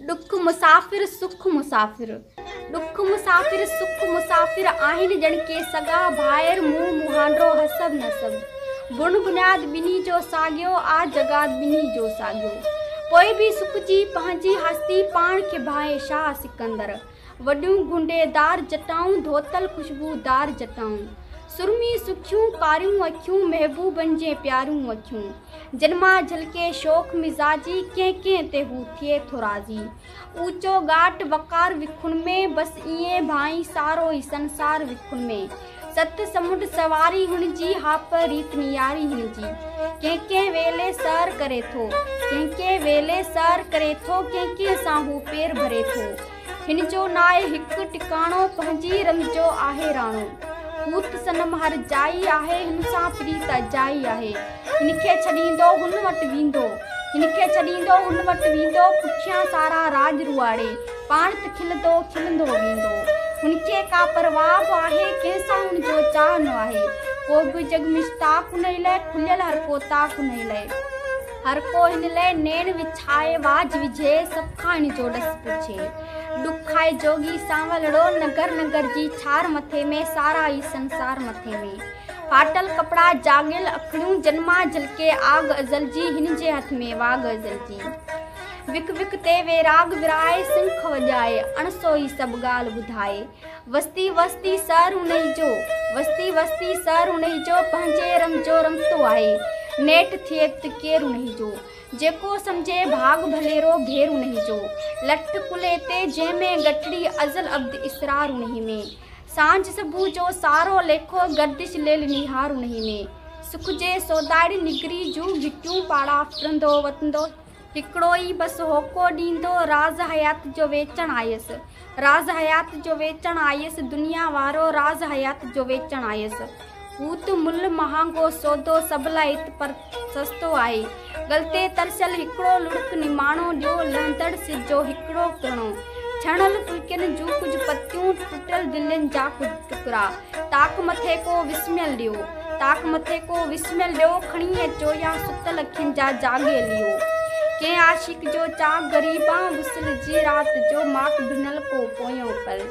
ڏک مسافر سک مسافر ڏک مسافر سک مسافر آهن ڄڻ ڪي سڳا ڀائر منهن مهانڊو حسب نسب بڻ بنياد ٻنهي جو ساڳيو آ جڳاد ٻنهي جو ساڳيو پوء به سک جي پنهنجي هستي پاڻ کي ڀانئي شاهه سڪندر وڏيون گونڊيدار جٽائون، ڌوتل خوشبودار جٽائون. سرمي سکيون ڪاريون اکيون، محبوبن جي پياريون اکيون. جن مان جهلڪي شوخ مزاجي، ڪنهن ڪنهن تي هو ٿئي ٿو راضي. اوچو ڳاٽ وقار وکن ۾، بس ائين ڀانئي سارو هي سنسار وکن ۾. ست سمنڊ سواري هن جي، هاپ ريت نياري هن جي. ڪنهن ڪنهن ويلي سحر ڪري ٿو. ڪنهن ڪنهن ويلي سحر ڪري ٿو. ڪنهن ڪنهن سان هو پير ڀري ٿو. هن جو ناهي هڪ ٽڪاڻو. پنهنجي رند جو آهي راڻو. هوت صنم هر جائي آهي. هن سان پريت اجائي آهي. هن کي ڇڏيندو هن وٽ ويندو. هن کي ڇڏيندو هن وٽ ويندو پٺيان سارا راڄ روئاڙي پاڻ ته کلندو کلندو ويندو. هن کي ڪا پرواهه به آهي ڪنهن سان هن جو چاهه نه آهي ڪو به جڳ مشتاق هن ئي لئه کليل هر ڪو طاق هن ئي لئه. هر ڪو هن لئه نيڻ وڇائي واجهه وجهي سڀ کان هن جو ڏس پڇي. ڏک آهي جوڳي سانولڙو ننگر ننگر جي ڇار مٿي ۾ سارا ئي سنسار مٿي ۾. ڦاٽل ڪپڙا جاڳيل اکڙيون جن مان جلڪي آڳ ازل جي هن جي هٿ ۾ واڳ ازل جي وک وک تي ويراڳ ورهائي سنک وڄائي اڻ سوئي سڀ ڳالهه ٻڌائي وستي وستي سر انهي جو وستي وستي سر انهي جو پنهنجي رم جو رمتو آهي نيٺ ٿئي ته ڪير انهي جو جيڪو سمجهي ڀاڳ ڀليرو ڀير انهي جو لٺ ڪلهي تي جنهن ۾ ڳٺڙي ازل ابد اسرار انهي ۾ سانجهه صبح جو سارو ليکو گردش ليل نهارون هي ۾، سک جي سودائڙي نگري جون گهٽيون پاڙا ڦرندو وتندو، هڪڙو ئي بس هوڪو ڏيندو راز حيات جو ويچڻ آيس، راز حيات جو ويچڻ آيس، دنيا وارو راز حيات جو ويچڻ آيس. هو ته ملهه مهانگو سودو سڀ لاء ات پر سستو آهي. غلطي ترسيل هڪڙو لڙڪ نماڻو ڏيو لهندڙ سج جو هڪڙو ڪرڻو. ڇڻيل ڦلڪين جون ڪجهه پتيون ٽٽيل دلين جا ڪجهه ٽڪرا. تاڪ مٿي ڪو وسميل ڏيو. تاڪ مٿي ڪو وسميل ڏيو کڻي اچو يا ستل اکين جا جاڳي ليئو. ڪنهن عاشق جو چاڪ غريبان وصل جي رات جو ماڪ ڀنل ڪو پويون پل.